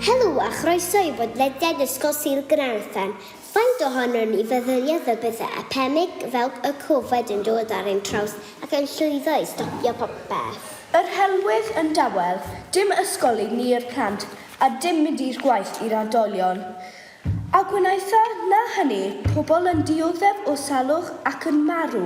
Helo a chroeso i bodlediad Ysgol Sul Gaernarfon. Faint ohonon ni feddyliodd y bydde epemig fel y Covid yn dod ar ein traws ac yn llwyddo i stopio popeth? Yr helwydd yn dawel, dim ysgol i ni i'r plant a dim mynd i'r gwaith i'r oedolion. A gwnaetha na hynny, pobl yn dioddef o salwch ac yn marw.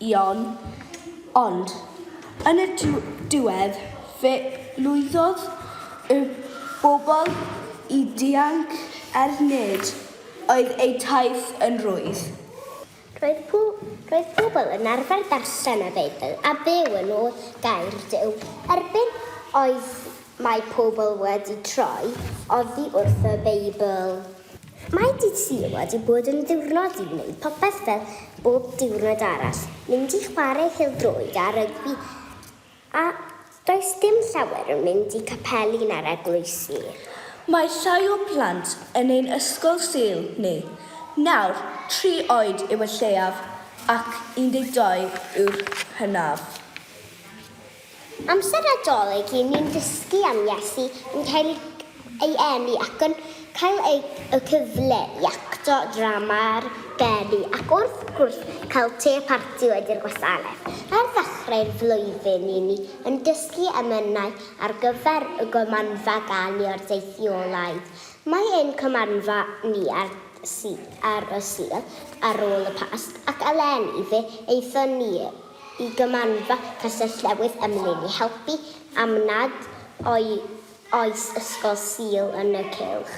Ion. Ond, yn y diwedd, fe lwyddodd y bobl i ddianc er nid oedd eu taith yn rwydd. Roedd pobl yn arfer darllen y Beibl a byw yn ôl Gair Duw. Erbyn oedd mae pobl wedi troi oddi wrth y Beibl. Mae dydd Sul wedi bod yn ddiwrnod i wneud popeth fel bob diwrnod arall, mynd i chwarae pêl-droed a rygbi a does dim llawer yn mynd i capeli na'r eglwysi. Mae llai o blant yn ein ysgol Sul ni nawr, tri oed yw y lleiaf ac 12 yw'r hynaf. Amser Nadolig i ni'n dysgu am Iesu, yn cael ei eni ac yn cael y cyfle i acto drama ar gerddi ac wrth gwrs cael te a parti wedi'r gwasanaeth. Ar ddechrau'r flwyddyn i ni yn dysgu emynau ar gyfer y gymanfa gan i'r deithiolaeth. Mae ein cymanfa ni ar y Sul ar ôl y Pasg ac eleni fe aethon ni Y Gymmanfa Castell Newydd ym Mlyn i helpu am nad oes ysgol Sul yn y cylch.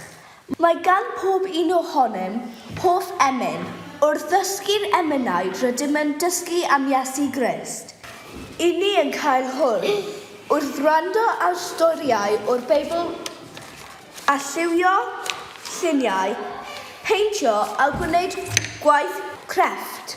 Mae gan pob un ohonom hoff emyn. Wrth ddysgu'r emynau rydym yn dysgu am Iesu Grist. Y ni yn cael hwyl wrth wrando ar storïau o'r Beibl a lliwio lluniau, peintio a gwneud gwaith crefft.